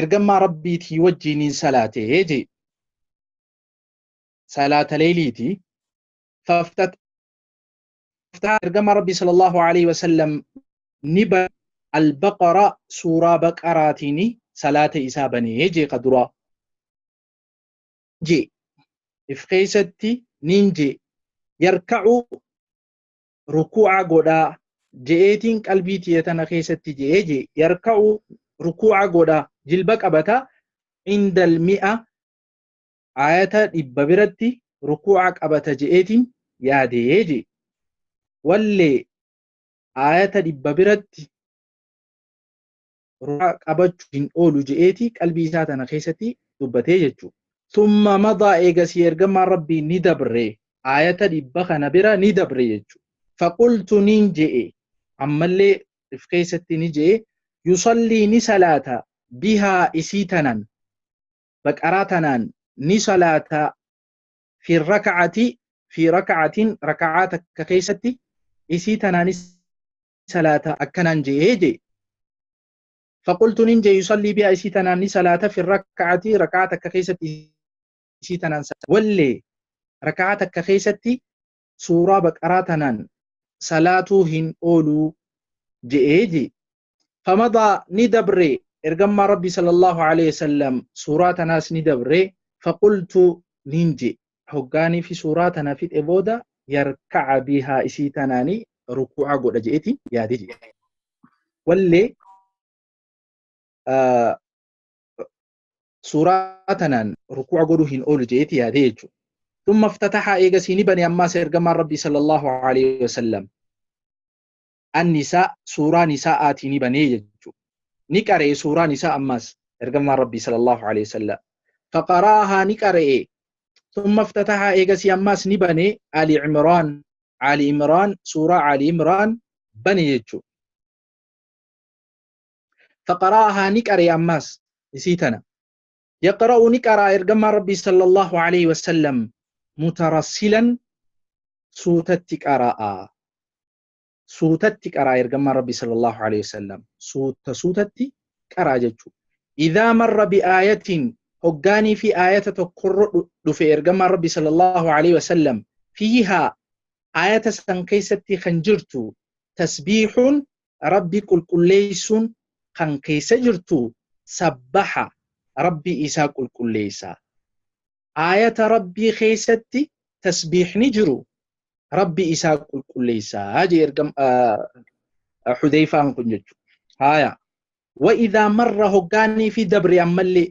ergammaa rabbiitii wajjiiniin salaate jee salaata leeyliiti faftat ergamaa rabbii sallallahu alaihi wasallam ni ba albaqara suuraa baqaraatiini salaata isaa banee jee ka duraa jee if keessatti niin jee yarka'u rukuu'a godhaa je'eetiin qalbii tiyya tana keessatti je'ee je yarka'u rukuu'a godha jilba qabata indal mi'a ayata dhibba biratti rukuu'a qabata je'eetiin yaadee je wallee ayata dhibba biratti ruraa qabachu hin oolu je'eeti qalbii isaa tana keessatti dubbatee jechu summa madaa eegasii ergamaan rabbii ni dabre aayata dhibba kana bira ni dabre jechu faqultu niin je'e ammallee if keessatti ni je'e yusallii ni salaata bihaa isii tanan baqaraa tanaan ni salaata fi raka'ati fi raka'atin raka'aa takka keessatti isii tanaanis salaata akkanaan je'ee jee faqultu nin jee yusallii bihaa isii tanaan ni salaata fi raka'atii raka'aa takka keessatti isii tanaan wallee raka'aa takka keessatti suuraa baqaraa tanaan salaatuu hin ooluu je'ee jee famadaa ni dabree ergammaa rabbii sallallahu alaihi wasallam suuraa tanaas ni dabree faqultu nin jee hoggaanii fi suuraa tana fidhe booda yarka'a bihaa isii tanaanii rukuu'a godha je'eti yaade je'e. Wallee suuraa tanaan rukuu'a godhuu hin oolu je'eti yaade jechuudha. Dhumma ftatahaa eegasii ni bane ammaas ergamaan Rabbii sallallahu alaihi wasallam. An-Nisaa suuraa Nisaa'aatii ni banee jechuudha. Ni qara'e suuraa Nisaa ammaas ergamaan Rabbii sallallahu alaihi wasallam. Faqara'ahaa ni qara'e. Summa iftatahaa eegasii ammaas ni bane Ali Imraan. Ali Imraan suuraa Ali Imraan bane jechuudha. Faqara'ahaa ni qara'e ammaas isii tana. Yaqra'u ni qara'a ergamaan Rabbii sallallahu alaihi wasallam mutarassilan suutatti qara'a. suutatti qaraa ergammaan rabbi sallallahu alaihi wasallam suuta suutatti qaraa jechuu idhaa marra bi'aayatiin hoggaanii fi aayata tokkorra dhufe ergammaan rabbi sallallahu alaihi wasallam fiihaa aayata san keessatti kan jirtu tasbiixuun rabbi qulqulleessuun kan keessa jirtu sabbaha rabbi isaa qulqulleessa aayata rabbii keessatti tasbiixni jiru rabbi isaa qulqulleessaa jee ergam hudeyfaan kun jechu haya wa idhaa marra hoggaanii fi dabre ammallee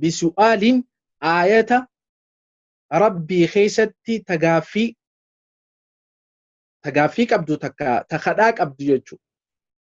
bisu'aaliin aayata rabbii keessatti tagaaffii tagaaffii qabdu takka takadhaa qabdu jechu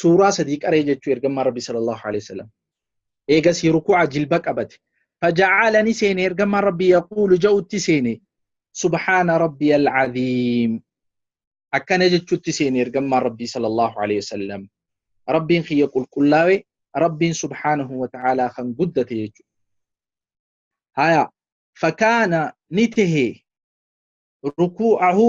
suuraa sadii qaree jechuu ergamaa rabbi sallallahu alaihi wasallam eegasii ruku'a jilba qabate faja'aalani seene ergamaa rabbi yaquulu ja'utti seene subhaana rabbi al'aziim akkana jechuutti seene ergamaa rabbi sallallahu alaihi wasallam rabbiin kiyya qulqullaawe rabbiin subhaanahu wa ta'aalaa kan guddate jechuudha haya fakaana ni tahe ruku'ahu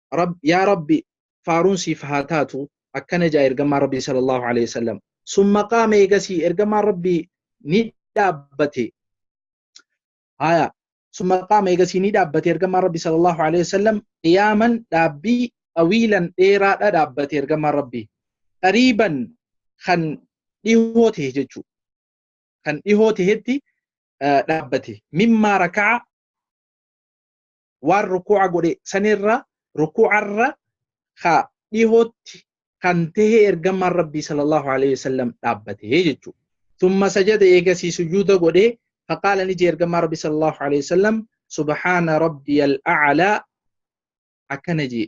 Rab, yaa Rabbi faaruun siif haa taatu akkana ja'a ergamaan Rabbii sallallahu alaihi wasallam summa qaama eegasii ergamaan Rabbii ni dhaabbate haya summa qaama eegasii ni dhaabbate ergamaan Rabbii sallallahu alaihi wasallam qiyaaman dhaabbii xawiilan dheeraadha dhaabbate ergamaan Rabbii qariiban kan dhihoo ta'e jechuu kan dhihoo ta'etti dhaabbate mimmaa raka'a waan rukuu'a godhe sanirra rukuu'arra ka dhihootti kan tahee ergamaan rabbii sallallahu alaihi wasallam dhaabbatee jechuu thumma sajada eegasii sujuuda godhe faqaala ni jee ergamaa rabbii sallallahu alaihi wasallam subhaana rabbiyal a'laa akkana jee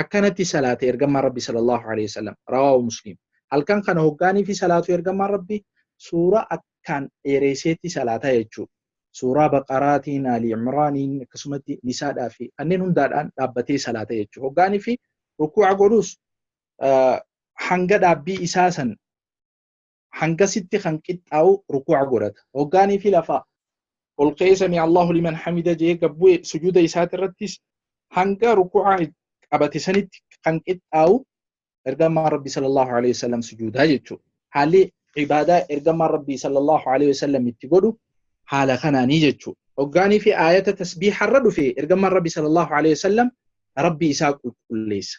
akkanatti salaate ergamaan rabbi sallallahu alaihi wasallam rawaahu muslim halkan kana hoggaaniifi salaatu ergamaan rabbi suuraa akkaan dheereeseetti salaata jechuu suuraa baqaraatiin ali imraaniin akkasumatti nisaadhaa fi kanneen hundaadhaan dhaabbatee salaata jechuu hoggaaniifi rukuuca godhuus hanga dhaabbii isaa san hangasitti kan qixxaa'u rukuu'a godhata hoggaanii fi lafaa ol ka'ee sami Allahu liman hamida jee gabbu'e sujuuda isaati irrattis hanga rukuu'a qabate sanitti kan qixxaa'u ergamaa rabbi sallallahu alaihi wasallam sujuudaa jechuudha haalli ibaadaa ergamaa rabbi sallallahu alaihi wasallam itti godhu haala kanaanii jechuudha hoggaanii fi aayata tasbiiharra dhufe ergamaa rabbi sallallahu alaihi wasallam rabbi isaa qulqulleessa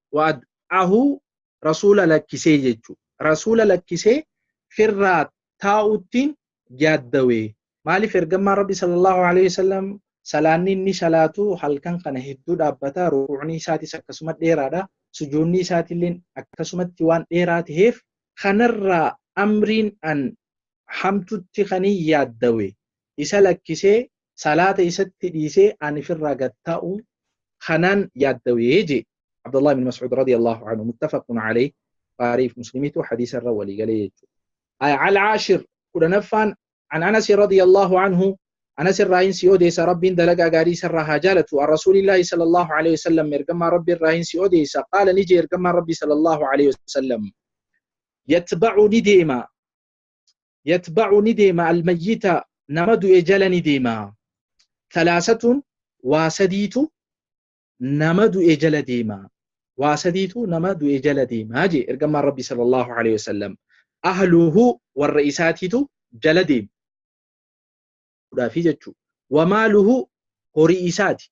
wa'ad'ahu rasuula lakkisee jechu rasuula lakkisee firraa taa'uttiin yaaddawe maalif ergammaan rabbi sallallahu alaihi wasallam salaanni inni salaatu halkan kana hedduu dhaabbata rukuucni isaatis akkasuma dheeraadha sujuunni isaatiilleen akkasumatti waan dheeraa taheef kanarraa amriin an hamtutti kanii yaaddawe isa lakkisee salaata isatti dhiisee ani firraa gad taa'u kanaan yaaddawee jee Abdullah ibn Mas'ud radiyallahu anhu muttafaqun alayh Bukhari fi Muslimitu hadiisa irra walii galee jechuudha. Al-Ashir kudhanaffaan an Anas radiyallahu anhu Anas irraa hin si odeessa Rabbiin dalagaa gaarii isarraa haa jaalatu an Rasuulillahi sallallahu alayhi wasallam ergamaa Rabbi irraa hin si odeessa qaala ni jee ergamaa Rabbi sallallahu alayhi wasallam yatba'u ni deema yatba'u ni deema almayyita nama du'e jala ni deema talaasatuun waa sadiitu nama du'e jala deema waa sadiitu nama du'e jala deema jee ergamaan rabbi sallallahu alaihi wasallam ahluhu warra isaatiitu jala deema fudhaafi jechuu wamaaluhu horii isaati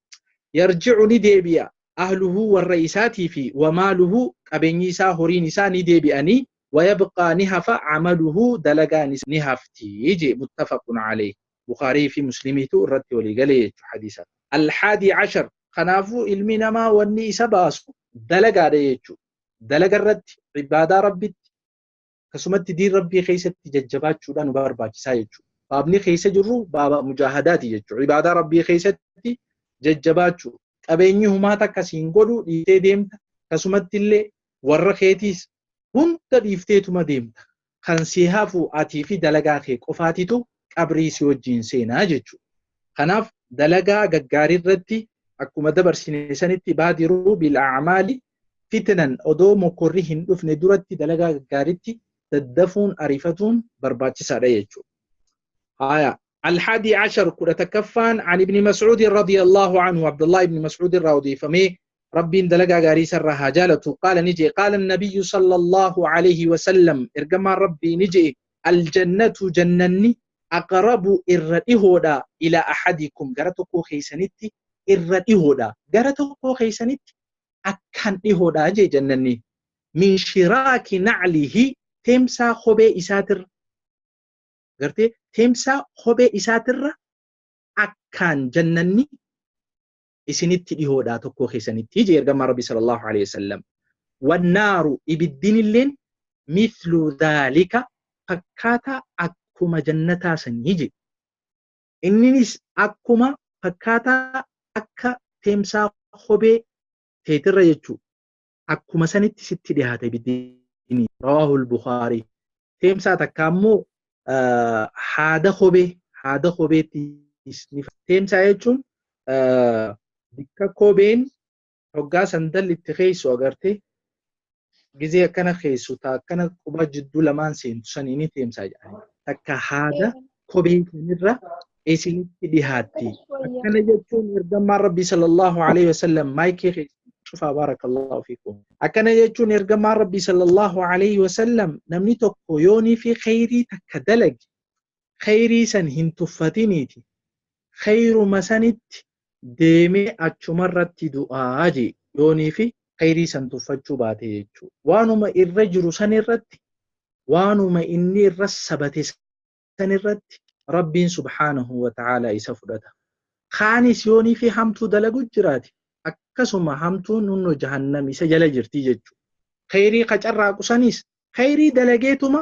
yarji'u ni deebi'a ahluhu warra isaatii fi wa maaluhu qabeenyi isaa horiin isaa ni deebi'anii wa yabqaa ni hafa amaluhu dalagaan isaa ni hafti je muttafaqun alayh bukhaarii fi muslimiitu irratti walii galee jechu hadiisa alhaadii cashar kanaafuu ilmi namaa wanni isa baasu dalagaadha jechu dalaga irratti ibaadaa rabbitti Akkasumatti diin rabbii keessatti jajjabaachuudhaan nu barbaachisaa jechuudha. Baabni keessa jirru baaba mujaahadaati jechuudha. Ibaadaa rabbii keessatti jajjabaachuu. Qabeenyi humaa takka siin godhu dhiiftee deemta. Akkasumatti illee warra keetiis hunda dhiifteetuma deemta. Kan si hafu atii fi dalagaa kee qofaatitu qabrii si wajjin seenaa jechuudha. Kanaaf dalagaa gaggaarii irratti akkuma dabarsine sanitti baadiruu bil a'maali fitnan odoo mokkorri hin dhufne duratti dalagaa gaggaaritti daddafuun arifatuun barbaachisaadha jechuudha. Haaya. Alhadi ashar kudha takkaffaan an ibni Mas'uudin radiyallahu anhu Abdullahi ibni Mas'uudin irraa odeeffamee rabbiin dalagaa gaarii isarraa haa jaalatu qaala ni jee qaala nabiyyu sallallahu alayhi wasallam ergamaan rabbii ni jee aljannatu jannanni aqrabu irra dhihoodha ila ahadikum gara tokkoo keeysanitti irra dhihoodha gara tokkoo keeysanitti akkaan dhihoodha jee jannanni min shiraaki naclihi teemsaa kophee isaatirra gartee teemsaa kophee isaatirra akkaan jannanni isinitti dhihoodha tokkoo keessanitti jee ergamaa rabbi sallallahu alaihi wasallam wannaaru ibiddinilleen mithlu dhaalika fakkaataa akkuma jannataa sanii jee Inninis akkuma fakkaataa akka teemsaa kophee teetirra jechuu akkuma sanitti sitti dhihaata ibiddi ni rawaahul bukhaarii teemsaa takka ammoo haada kophee haada kopheetti teemsaa jechuun bikka kopheen hoggaa sandalli itti keeysu agarte gizee akkana keeysu ta akkana qubaa jidduu lamaan seentu sanii ni teemsaa jedhani takka haada kophee kanirra isinitti dhihaatti akkana jechuun ergamaan rabbii sallallahu alaihi wasallam maayikii keeysa cufaa baarakallahu fiikum akkana jechuun ergamaan rabbii sallallahu alaihi wasallam namni tokko yoonii fi kheyrii takka dalage kheyrii san hin tuffatiniiti kheyruma sanitti deemee achumarratti du'a jee yooniifi kheyrii san tuffachuu baate jechuu waanuma irra jiru san irratti waanuma inni irra sabate san irratti rabbiin subhaanahu wa ta'aalaa isa fudhata kaanis yooniifi hamtuu dalagu jiraate akkasuma hamtuun hunno jahannam isa jala jirti jechuu kheyrii ka carraaqu sanis kheyrii dalageetuma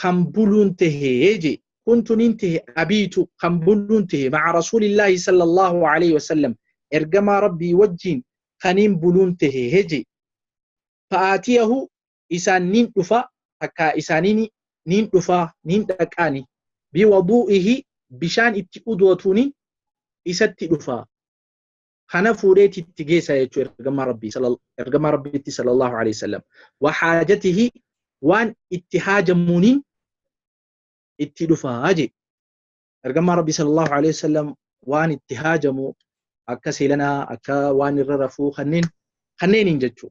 kan buluun tahe je kuntu nin tahe abiitu kan buluun tahe maca rasuulillaahi sala allaahu alayhi wasalam ergamaa rabbii wajjiin kaniin buluun tahe je fa'aatiyahu isaan nin dhufa takka isaaniin nin dhufa nin dhaqaani biwaduu'ihi bishaan itti udwatuunin isatti dhufa kana fuudhee itti geessa jechuu ergamaa rabbii ergamaa rabbiitti sallallahu alaihi wasallam wa haajatihi waan itti haajamuuniin itti dhufaa jee ergamaa rabbii sallallahu alaihi wasallam waan itti haajamu akka seelanaa akka waan irra rafuu kanneen kanneeniin jechuu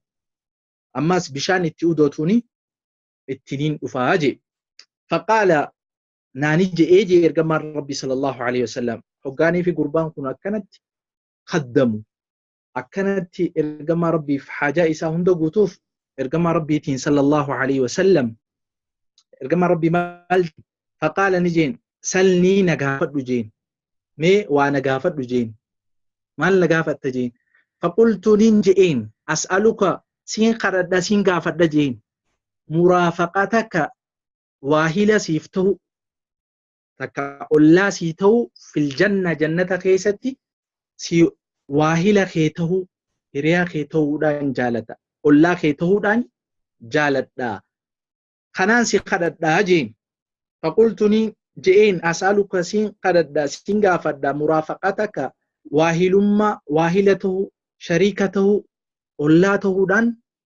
ammaas bishaan itti udootuuni ittiniin dhufaa jee faqaala naani je'ee jee ergamaan rabbi sallallahu alaihi wasallam hoggaanii fi gurbaan kun akkanatti kaddamu akkanatti ergamaa rabbiif haajaa isaa hunda guutuuf ergamaa rabbiitiin sallallahu alaihi wasallam ergamaa rabbii maal faqaala ni jeen salnii na gaafadhu jeen mee waa na gaafadhu jeen maal na gaafatta jeen faqultu nin je'een as'aluka siin kadhadha siin gaafadha jeen muraafaqataka waahila siif ta'u takka ollaa sii ta'u fil janna jannata keessatti si waahila kee ta'u hiriyaa kee ta'uudhaan jaalata ollaa kee ta'uudhaan jaaladha kanaan si kadhadhaa jeen faqultuni je'een as'aluka siin kadhadha siin gaafadha muraafaqataka waahilummaa waahila ta'u shariika ta'u ollaa ta'uudhaan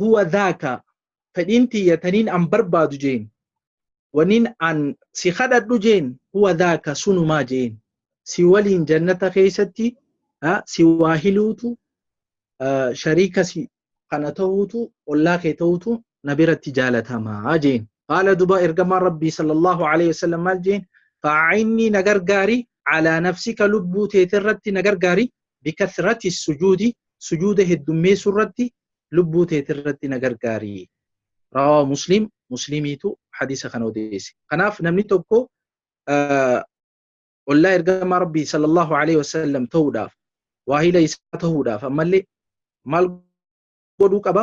huwa dhaaka fedhiin tiyya taniin an barbaadu jeen waniin an si kadhadhu jeen huwa dhaaka sunumaa jeen si waliin jannata keessatti si waa hiluutu shariika si kana ta'uutu ollaa kee ta'uutu na biratti jaalatamaa jeen qaala duba ergamaan rabbii sallallahu alaihi wasallam maal jeen fa'ainni na gargaari alaa nafsika lubbuu teetirratti na gargaari bikathrati sujuudi sujuuda heddummeessu irratti lubbuu teeti irratti na gargaari rawaa muslim muslimiitu hadiisa kana odeesse kanaaf namni tokko ollaa ergamaa rabbii sallallahu alaihi wasallam ta'uudhaaf waahila isaa ta'uudhaaf ammallee maal godhuu qaba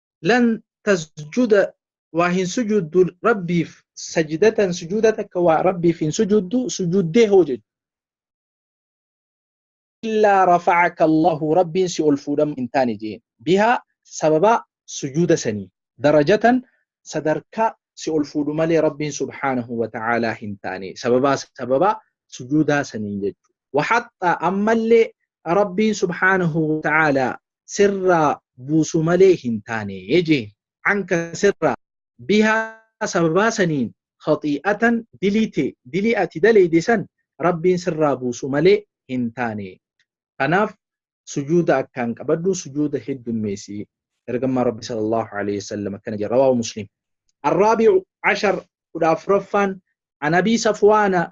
lan tasjuda waa hin sujuuddu rabbiif sajidatan sujuuda takka waa rabbiif hin sujuuddu sujuuddee hoo jechu illaa rafacaka allahu rabbiin si ol fuudhamu hin taane jeen bihaa sababaa sujuuda sanii darajatan sadarkaa si ol fuudhu malee rabbiin subhaanahu wa ta'aalaa hin taane sababaa sababaa sujuudaa saniin jechu waxaxxaa ammallee rabbiin subhaanahu wa ta'aalaa sirraa buusu malee hin taane jee. Anka sirraa. Bihaa sababaa saniin khaxii'atan dilii tee, dilii ati daleyde san Rabbiin sirraa buusu malee hin taane. Kanaaf sujuuda akkaan qabadhu, sujuuda heddummeeysi. Ergamaan Rabbi sallallahu aleyhi wa sallam akkana jedhe, rawaahu Muslim. Arraabi'u ashar, kudha afraffaan, an Abii Safwaana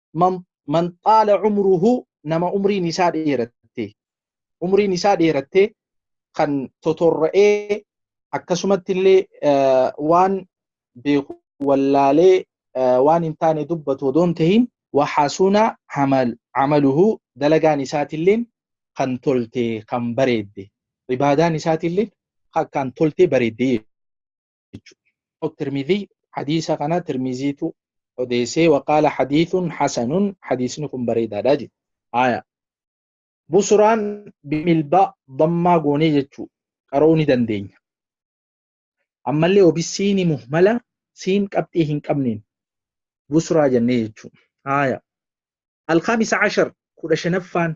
man man xaala umruhu nama umriin isaa dheeratte umriin isaa dheeratte kan totorra'ee akkasumatti illee waan beeku wallaalee waan hin taane dubbatu odoo hin tahin waxasuna amal amaluhu dalagaan isaatilleen kan tolte kan bareedde ibaadaan isaatilleen kan tolte bareedde jechuudha. Tirmizii hadiisa kana tirmiziitu odeessee waqaala hadiisun hasanun hadiisni kun bareedaadha jedhe. Haaya. Busuraan bimilbaa dammaa goonee jechuu qara'uu ni dandeenya. Ammallee obisiini muhmala siin qabxii hin qabneen busuraa jennee jechuu. Haaya. Alkhaamisa ashar kudha shanaffaan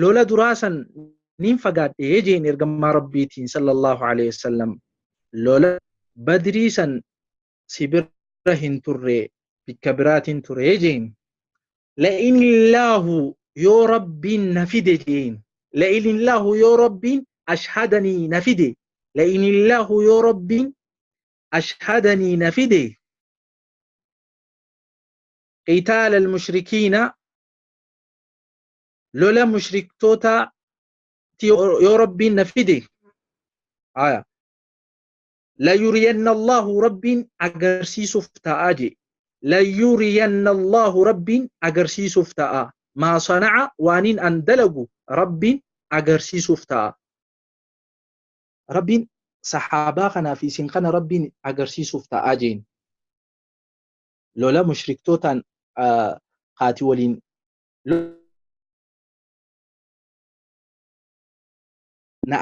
lola duraa san niin fagaadhe jeen ergamaa rabbiitiin sallallahu alaihi wasallam lola badrii san si bira hin turre bikka biraatiin ture jeen la'in illaahu yoo rabbiin na fide jeen la'in illaahu yoo rabbiin ashhadanii na fide la'in illaahu yoo rabbiin ashhadanii na fide qitaala almushrikiina lola mushriktootaa ti yoo yoo rabbiin na fide aya layuriyanna allahu rabbiin agarsiisuuf ta'aa jee layuriyanna allahu rabbiin agarsiisuuf ta'aa maa sana'a waaniin an dalagu rabbiin agarsiisuuf ta'aa rabbiin sahaabaa kanaa fi isin kana rabbiin agarsiisuuf ta'aa jeen lola mushriktootaan ah, kaati waliin na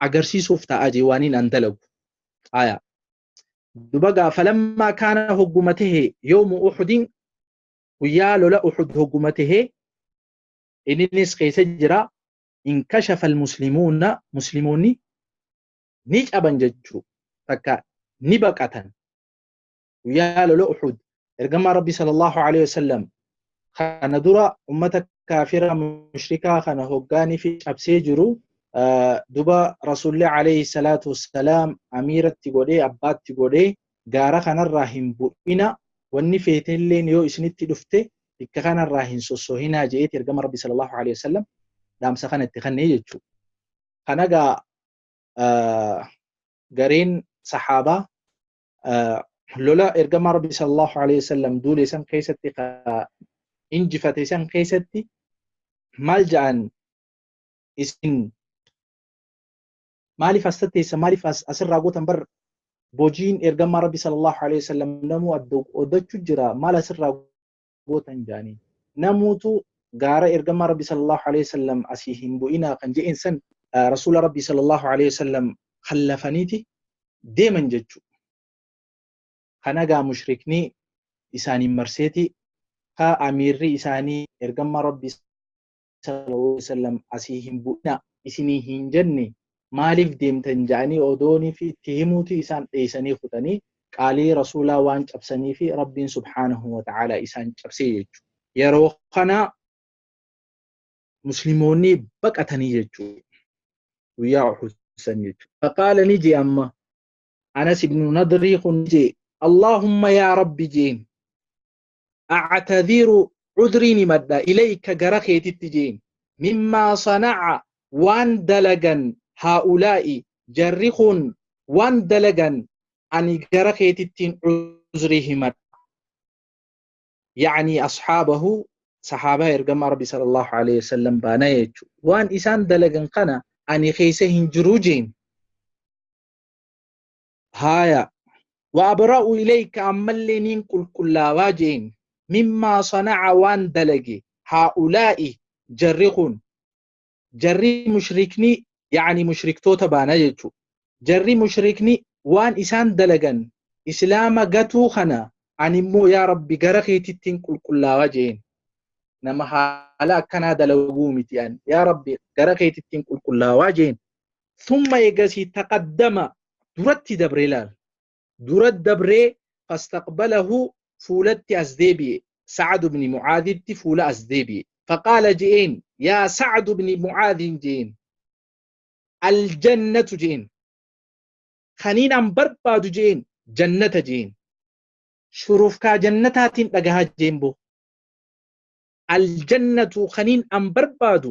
agarsiisuuf ta'a jee waaniin an dalagu aayaa dubagaa falammaa kaana hogguma tahe yoomu uxudin guyyaa lola uxud hogguma tahe inninis keessa jira inkashafa almuslimuuna muslimoonni ni caban jechuu takka ni baqatan guyyaa lola uxud ergamaa rabbii sallallahu alaihi wasallam kana dura ummata kaafira mushrikaa kana hoggaanii fi cabsee jiru duba rasuulli alayhi salaatu wassalaam amiiratti godhee abbaatti godhee gaara kanarraa hin bu'ina wanni feetelleen yoo isinitti dhufte bikka kanarraa hin sossohinaa je'eeti ergama rabbi sallallahu alayhi wasallam dhaamsa kana itti kennee jechuudha. Kanagaa gareen sahaabaa lola ergamaa rabbi sallallahu alaihi wasallam duule san keessatti injifate san keessatti maal ja'an isin maaliif as tatteessa maaliif asirraa gootan bar bojiin ergamaa rabbi sallallahu alaihi wasallam namuu oddachu jira maal asirraa gootan jaaniin. Namuutu gaara ergamaa Rabbi sallallahu alayhi wasallam asii hin bu'inaa kan je'een san Rasuula Rabbi sallallahu alayhi wasallam khallafaniiti deeman jechu. Kana gaa mushrikni isaaniin marseeti ka amiirri isaanii ergamaa Rabbi sallallahu alaihi wasallam asii hin bu'ina isinii hin jenne maaliif deemtan ja'anii odoonii fi itti himuuti isaan dheeysanii kutanii qaalii rasuulaa waan cabsanii fi rabbiin subhaanahu wa ta'aalaa isaan cabsee jechu yeroo kana muslimoonni baqatanii jechu guyyaa uhud san jechu faqaala ni jee amma anas ibnu nadrii kun ni jee allahumma yaa rabbi jeen actadiru cudriin himadha ilayka gara keetitti jeen mimmaa sanaca waan dalagan haa'ulaa'i jarri kun waan dalagan ani gara keetittiin cudrii himadha yacnii ashaabahu sahaabaa ergamaa rabbi sallallahu alaihi wasallam baana jechu waan isaan dalagan kana ani keessa hin jiruu jeen haaya wa abra'u ilayka ammallee niin qulqullaawaa jeen mimmaa sana'a waan dalage haa'ulaa'i jarri kun jarri mushrikni yaani mushriktoota baana jechu jarri mushrikni waan isaan dalagan islaama gatuu kana ani immoo yaa rabbi gara keetittiin qulqullaawaa jeen nama haala akkanaa dalaguu miti an yaa rabbi gara keetittiin qulqullaawaa jeen thumma eegasii taqaddama duratti dabree laal dura dabree fastaqbalahu fuulatti as deebi'e sa'ad ibni mucaaditti fuula as deebi'e faqaala je'een yaa sa'ad ibni mucaadiin je'een aljannatu je'een kaniin an barbaadu je'een jannata je'een shurufkaa jannataatiin dhagahaa je'een boo aljannatu kaniin an barbaadu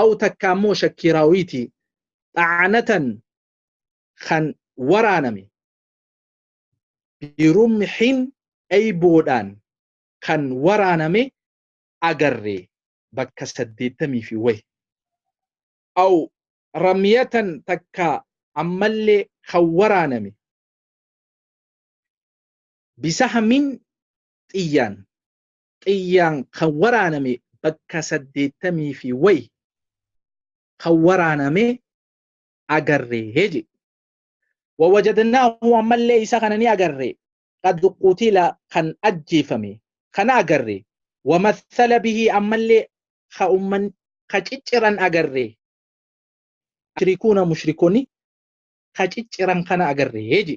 aw takka ammoo shakkii raawiitii xacanatan kan waraaname birumxin eyboodhaan kan waraaname agarre bakka saddeettamii fi wayi aw ramyatan takka ammallee kan waraaname bisahmin xiyyaan xiyyaan kan waraaname bakka saddeettamii fi wayi kan waraaname agarre jedhe. Wawajadnaahu ammallee isa kana ni agarre qad qutila kan ajjeefame kana agarre wamassala bihii ammallee ka umman ka cicciran agarre mushrikuuna mushrikoni ka cicciran kana agarre jedhe.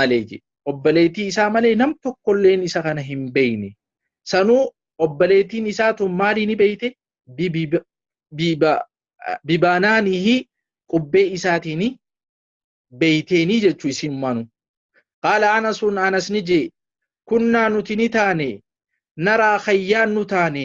malee jee obboleetii isaa malee nam tokkolleen isa kana hin beeyne sanuu obboleetiin isaa tun maalii ni beeyte bibiba- biba- bibaanaanihi qubbee isaatiini beeyteenii jechuu isiin maanu qaala anasuun anas ni jee kunnaa nuti ni taane naraa khayyaan nu taane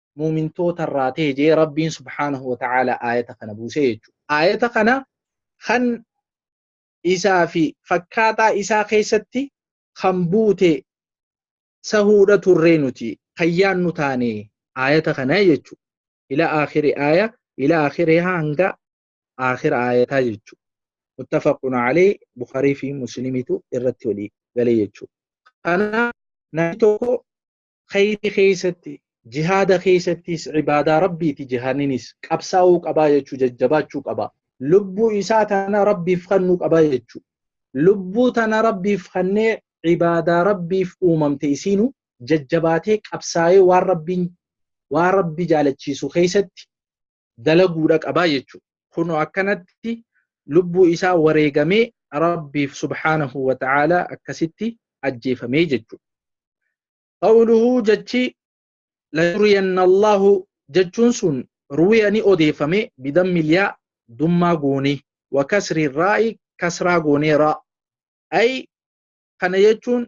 muumintoota irraa ta'e jee rabbiin subhaanahu wa ta'aala aayata kana buusee jechuudha. Aayata kana kan isaa fi fakkaataa isaa keessatti kan buute sahuudha turree nuti kan yaannu taane aayata kana jechuudha. Ila aakhiri aaya ila aakhirihaa hanga aakhira aayataa jechuudha. Muttafaqun alee Bukharii fi Muslimitu irratti walii galee jechuudha. Kana namni tokko khayrii keessatti jihaada keessattis ibaadaa rabbiiti jihaanninis qabsaa'uu qabaa jechuu jajjabaachuu qaba lubbuu isaa tana rabbiif kennuu qaba jechuu lubbuu tana rabbiif kennee ibaadaa rabbiif uumamte isiinu jajjabaatee qabsaa'ee waan rabbiin waan rabbi jaalachiisu keessatti dalaguudha qabaa jechuudha. Kunoo akkanatti lubbuu isaa wareegamee Rabbiif subhaanahu wa ta'aalaa akkasitti ajjeefamee jechuudha. Qawluhu jechi layuriyanna Allahu jechuun sun ruwiya ni odeeffame bidammi liyaa dummaa goonee wa kasri raa'i kasraa goonee raa. Ay kana jechuun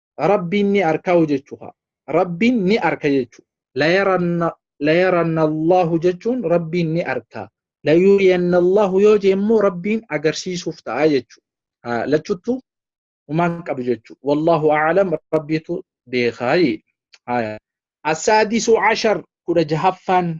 Rabbiin ni arkaa hojechuu haa. Rabbiin ni arka jechuu. Layaranna layaranna Allahu jechuun Rabbiin ni arkaa. Layuriyanna Allahu yoo jee immoo Rabbiin agarsiisuuf ta'a jechuu. Haa lachuttu umaan qabu jechuu. Wallahu a'alam Rabbiitu beekaa jee. Haa. Asaadisu ashar kudha jahaffaan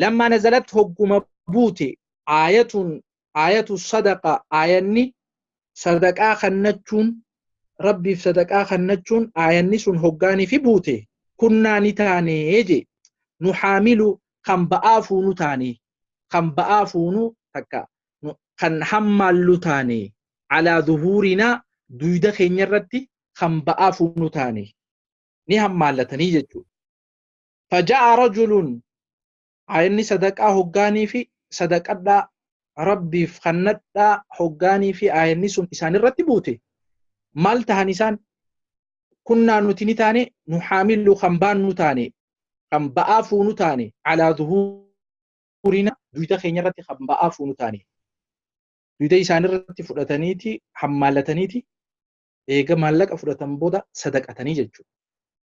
lammaa nazalat hogguma buute aayatuun aayatu sadaqa aayanni sadaqaa kannachuun rabbiif sadaqaa kannachuun aayanni sun hoggaanii fi buute kunnaa ni taanee je nu haamilu kan ba'aa fuunu taane kan ba'aa fuunu takka kan hammaallu taane alaa zuhuurinaa duyda keenya irratti kan ba'aa fuunu taane ni hammaallatanii jechuudha. faja'a rajulun inni sadaqaa hoggaanii fi sadaqadhaa rabbiif kannadhaa hoggaanii fi aayanni sun isaan irratti buute maal tahan isaan kunnaa nuti ni taane nu haamilu kan baannu taane kan ba'aa fuunu taane alaa zuhuurina duyda keenya irratti kan ba'aa fuunu taane duyda isaan irratti fudhataniiti hammaalataniiti eega maallaqa fudhatan booda sadaqatanii jechuudha.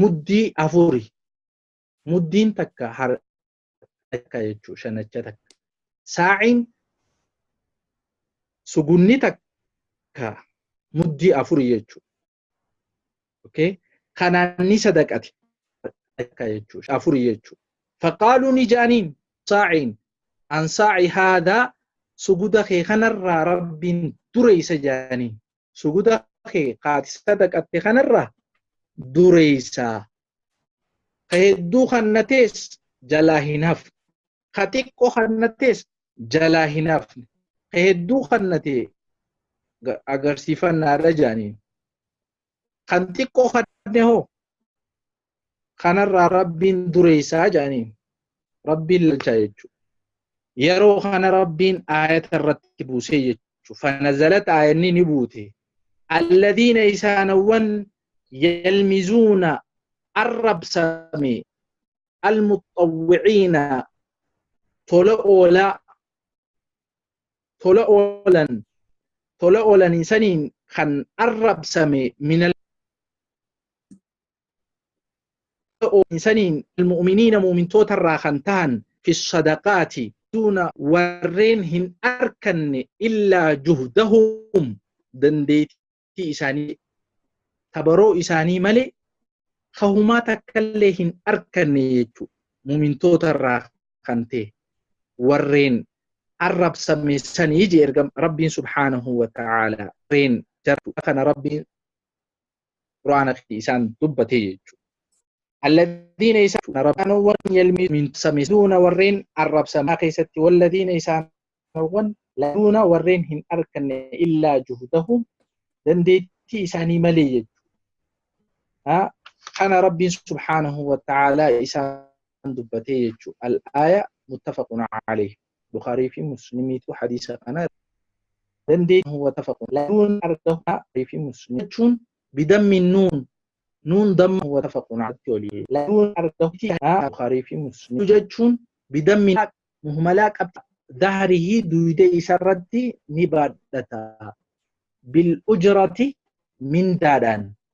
Muddii afuri. Muddiin takka har takka jechuu shanacha takka. Saa'iin sugunni takka muddii afuri jechuu. Okay? Kanaan ni sadaqati takka jechuu afuri jechuu. Faqaaluu ni jaaniin saa'iin an saa'i haadaa suguda kee kanarraa rabbiin dureessa jaaniin. suguda kee kaati sadaqatte kanarraa dureeysaa ka hedduu kannatees jalaa hin hafne ka xiqqoo kannatees jalaa hin hafne ka hedduu kannatee agarsiifannaadha jedhaniin kan xiqqoo kanne hoo kanarraa rabbiin dureessaa jedhaniin rabbiin lalchaa jechuudha. Yeroo kana rabbiin aayata irratti buusee jechuudha. Fanazalat aayanni ni buute. Alladiina isaanawwan yalmizuuna arrabsame almuxawwiciina tola oolaa tola oolan tola oolan isaniin kan arrabsame minal saniin almu'miniina mu'mintoota irraa kan tahan fi sadaqaati duuna warreen hin arkanne illaa juhdahum dandeettii isaanii tabaroo isaanii malee kahumaa takkallee hin arkanne jechuu mu'mintoota irraa kan ta'e warreen arrabsame sanii je ergam rabbiin subhaanahu wa ta'aala warreen jartu kana rabbiin quraana fi isaan dubbatee jechuudha. Alladiina isaan arrabsaanowwan yalmii min samiduuna warreen arrabsamaa keessatti walladiina isaanowwan laduuna warreen hin arkanne illaa juhdahum dandeettii isaanii malee jechuudha. Kana Rabbiin subhaanahu wa ta'aalaa isaan dubbatee jechuudha. Al-aaya muttafaqun alayhi. Bukhaarii fi Muslimiitu hadiisa kana dandeetti watafaqun laduun arga Bukhaarii fi Muslim jechuun bidammi nuun nuun damma watafaqun alatti olii laduun arga Bukhaarii fi Muslim jechuun bidammi muhmalaa qabxii dahrihi duyda isarratti ni baadhata bil ujrati mindaadhaan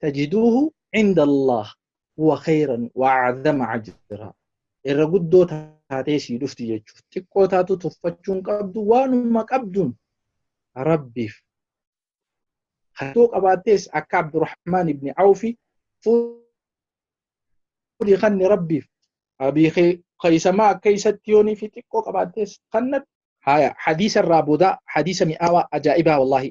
tajiduuhu cinda Allah huwa khayran wa acdama ajra irra guddoo taatee sii dhufti jechuuf xiqqoo taatu tuffachuun qabdu waanuma qabduun rabbiif hatoo qabaattees akka abdurahmaan ibni awfi fuudhi kanni rabbiif abii kaysamaa akka isatti yoonii fi xiqqoo qabaattees kannatti haya hadiisa irraa boodaa hadiisa mi'aawaa ajaa'ibaa wallaahi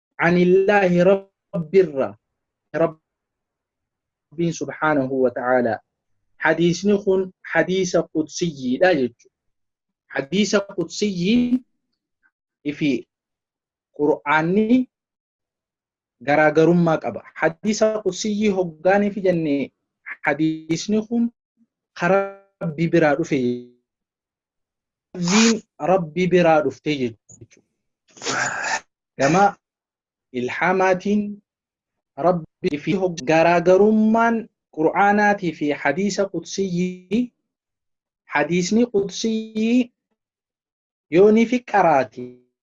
anillaahi rabbirra rabbiin subhaanahu wa ta'aalaa hadiisni kun hadiisa qudsiyyiidha jechuudha hadiisa qudsiyyiin fi qur'aanni garaagarummaa qaba hadiisa qudsiyyii hoggaaniif jenne hadiisni kun karaa rabbii biraa dhufe lafziin rabbi biraa dhuftee jechuudha. Gama ilhaamaatiin rabbi fi garaagarummaan qur'aanaatii fi hadiisa qudsiyyii hadiisni qudsiyyii yoonii fi qaraati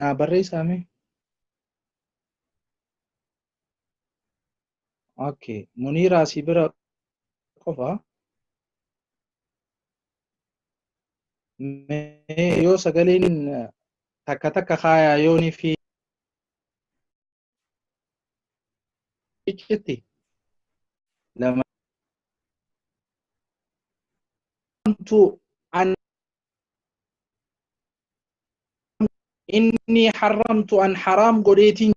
Naa barreessaa mee? Okay. Muniiraa si bira qofa. Mee yoo sagaleen takka takka kaayaa yoonii fi iccitti lama tu an inni haramtu an haraam godheetiin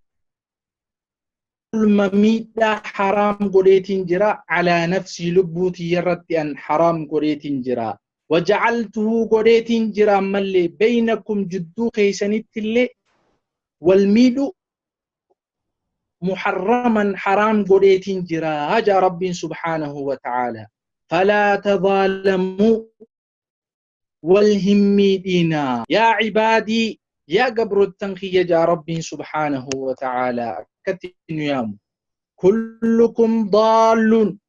zulma miidhaa haraam godheetiin jira alaa nafsii lubbuu tiyyarratti an haraam godheetiin jira wajacaltuhu godheetiin jira ammallee beynakum jidduu keeysanittillee wal miidhu muharraman haraam godheetiin jira jaa rabbiin subhaanahu wa ta'aala falaa tadaalamuu wal hin miidhiinaa yaa cibaadii yaa gabrottan kiyya jaa rabbiin subhaanahu wa ta'aala akkatti nu yaamu kullukum daalluun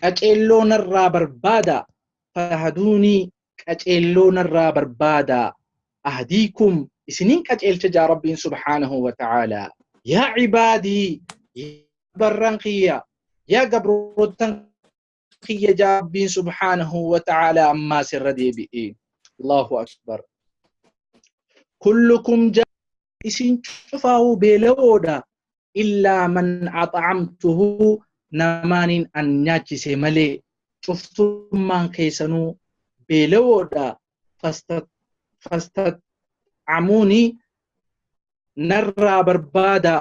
qaceelloo narraa barbaadaa fatahaduunii qaceelloo narraa barbaadaa ahdiikum isiniin qaceelcha jaa rabbiin subhaanahu wa ta'aalaa yaa cibaadii yaa barran kiyya yaa gabroottan kiyya jaa rabbiin subhaanahu wa ta'aalaa ammaas irra deebi'e allahu akbar kullukum jaa isin cufaa'uu beela'oodha illaa man axacamtuhu namaaniin an nyaachise malee cuftummaan keessanuu beelawoodha fastaxamuuni narraa barbaada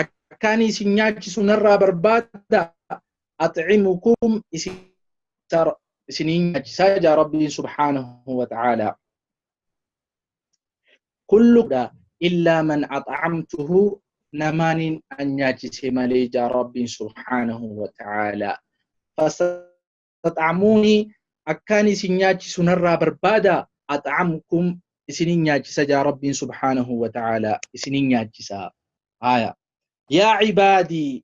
akkaan isin nyaachisu narraa barbaada axcimukum isiniin nyaachisaa jaa rabbiin subhaanahu wa ta'aalaa kulluudha illaa man ax'amtuhu namaaniin an nyaachise malee jaa rabbiin subhaanahu wa ta'aala fastaxamuuni akkaan isin nyaachisu narraa barbaada ax'amkum isinin nyaachisa jaa rabbiin subhaanahu wa ta'aala isinin nyaachisa aya yaa cibaadii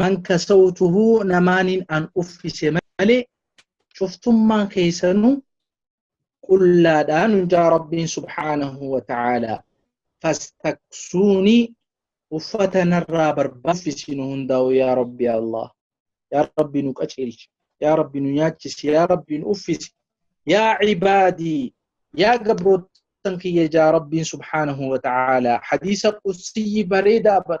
man kasawtuhu namaaniin an uffise malee cuftummaan keessanuu qullaadhaa nun jaa rabbiin subhaanahu wa ta'aalaa fastaksuunii uffata narraa barbaachisiinu hundaa'u yaa rabbi allah yaa rabbi nu qaceelchi yaa rabbi nu nyaachisi yaa rabbi nu uffisi yaa cibaadii yaa gabroottan kiyya jaa rabbiin subhaanahu wa ta'aalaa hadiisa qussiyyi bareedaa bar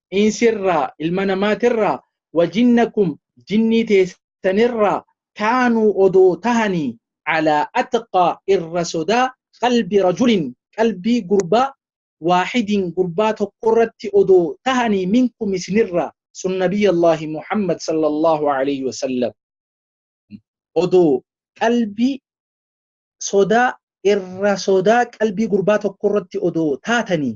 insirraa ilma namaatirraa wajinnakum jinnii teessanirraa kaanuu odoo tahanii calaa atqaa irra sodaa qalbi rajulin qalbii gurbaa waaxidin gurbaa tokkorratti odoo tahanii minkum isinirraa sun nabiyyallaahi muhammad sallallahu alayhi wasallam odoo qalbii sodaa irra sodaa qalbii gurbaa tokkorratti odoo taatanii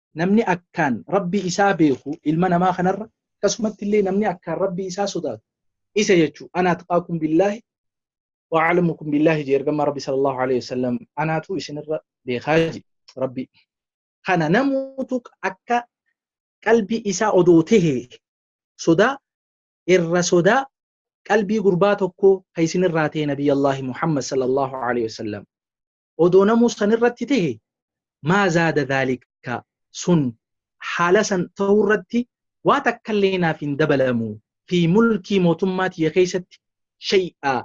namni akkaan Rabbii isaa beeku ilma namaa kanarra akkasumatti illee namni akkaan Rabbii isaa sodaatu isa jechuu ana atqaakum billaahi wa a'lamukum billaahi jee ergamaa Rabbi sallallahu alaihi wasallam anaatu isinirra beekaa jee Rabbi kana namuutu akka qalbii isaa odoo tahe sodaa irra sodaa qalbii gurbaa tokko ka isinirraa ta'e nabiyyallaahi Muhammad sallallahu alaihi wasallam odoo namuu san irratti tahe maa zaada dhaalika sun haala san ta'uu irratti waa takkallee naaf hin dabalamu fi mulkii mootummaa tiyya keessatti shay'aa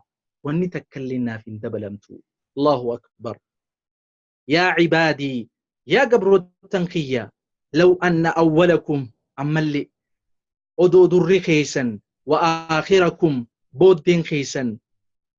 wanni takkallee naaf hin dabalamtu allahu akbar yaa cibaadii yaa gabrootan kiyya law anna awwalakum ammallee odoo durri keessan wa aakhirakum booddeen keessan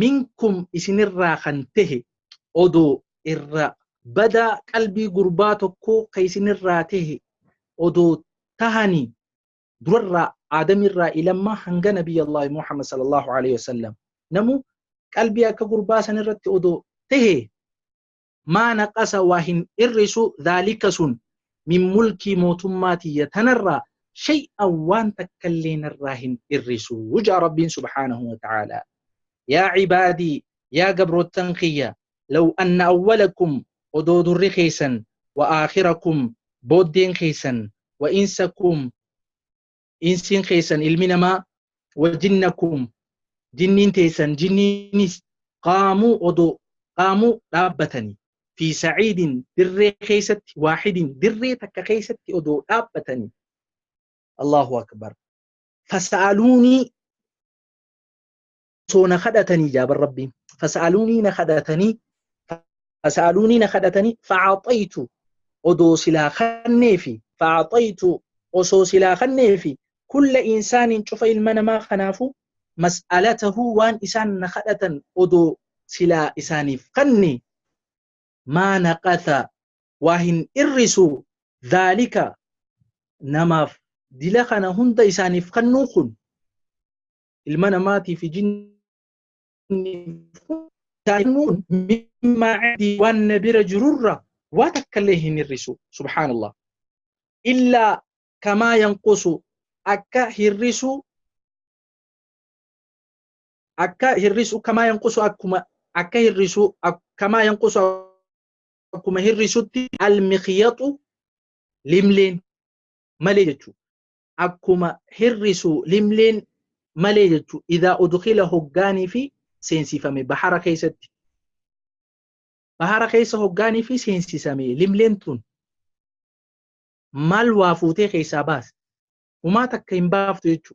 minkum isinirraa kan tahe odoo irra badaa qalbii gurbaa tokkoo ka isinirraa tahe odoo tahani durarraa aadamirraa ilammaa hanga nabiy allahi muhammad sallallahu alaihi wasallam namu qalbii akka gurbaa sanirratti odoo tahe maa naqasa waa hin hir'isu dhaalika sun min mulkii mootummaa tiyya tanarraa shay'an waan takkallee narraa hin hir'isu ja'a rabbiin subhaanahu wa ta'aalaa yaa cibaadii yaa gabroottan kiyya law anna awwalakum odoo durri keessan wa aakhirakum booddeen keessan wa insakum insiin keessan ilmi namaa wajinnakum jinniin teessan jinniinis qaamuu odoo qaamuu dhaabbatanii fi sa'iidin dirree keessatti waahidin dirree takka keessatti odoo dhaabbatanii Allahu akbar fasa'aluunii osoo na kadhatanii jaaban rabbiin fasa'aluunii na kadhatanii fasa'aluunii na kadhatanii fa'aaxayitu odoo silaa kannee fi fa'aaxayitu osoo silaa kannee fi kulla insaaniin cufa ilma namaa kanaafu mas'alatahu waan isaan na kadhatan odoo silaa isaaniif kanne maa naqata waa hin irrisu dhaalika namaaf dila kana hunda isaaniif kannuu kun ilma namaatii fi jinni daa'immuun mimmaa cindii waan na bira jirurra waa takka illee hin hir'isu subhaanallah illaa kamaa yanqusu akka hir'isu akka hir'isu kamaa yanqusu akkuma akka hir'isu kamaa yanqusu akkuma hir'isutti almiqyaxu limleen malee jechuudha. akkuma hir'isu limliin malee jechu idaa udkhila hoggaanii fi seensifame bahara keessatti bahara keessa hoggaanii fi seensisame limliin tun maal waa fuutee keessaa baas humaa takka hin baaftu jechu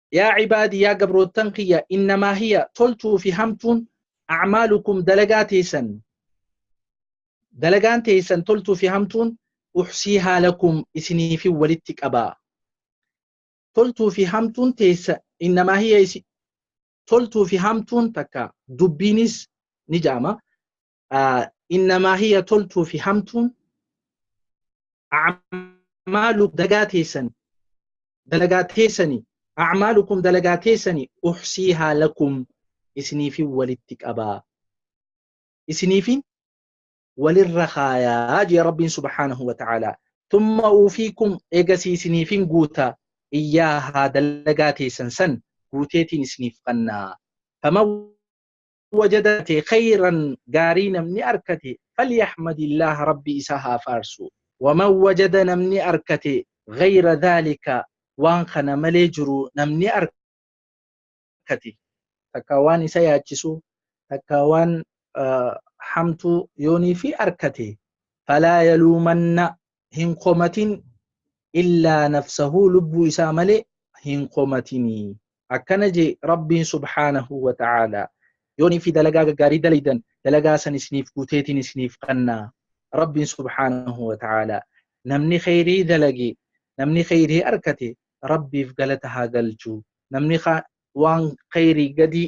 Yaa cibaadii yaa gabroottan kiyya innamaa hiya toltuu fi hamtuun acmaalukum dalagaa teessan dalagaan teessan toltuu fi hamtuun uxsii haalakum isiniifin walitti qabaa toltuu fi hamtuun teessa innamaa hiya isi toltuu fi hamtuun takka dubbiinis ni jaama innamaa hiya toltuu fi hamtuun acmaalu dagaa teessan dalagaa teessani acmaalukum dalagaa teessani uxsiihaa lakum isiniifin walitti qabaa isiniifin walirra kaayaa jee rabbiin subhaanahu wa ta'aalaa tumma uufiikum eegasii isiniifin guuta iyyaahaa dalagaa teessan san guuteetiin isiniif qannaa faman wajadate khayran gaarii namni arkate falyahmadillaah rabbi isa haa faarsu waman wajada namni arkate ghayra dhaalika waan kana malee jiru namni arkate takkaa waan isa yaachisu takkaa waan hamtuu yooniifi arkate falaa yaluumanna hin komatin illaa nafsahuu lubbuu isaa malee hin komatinii akkana je rabbiin subhaanahu wa ta'aalaa yoonii fi dalagaa gaggaarii dalaydan dalagaa san isiniif guuteetiin isiniif kannaa rabbiin subhaanahu wa ta'aalaa namni kheyrii dalage namni kheyrii arkate rabbiif galata haa galchu namni waan kheyrii gadii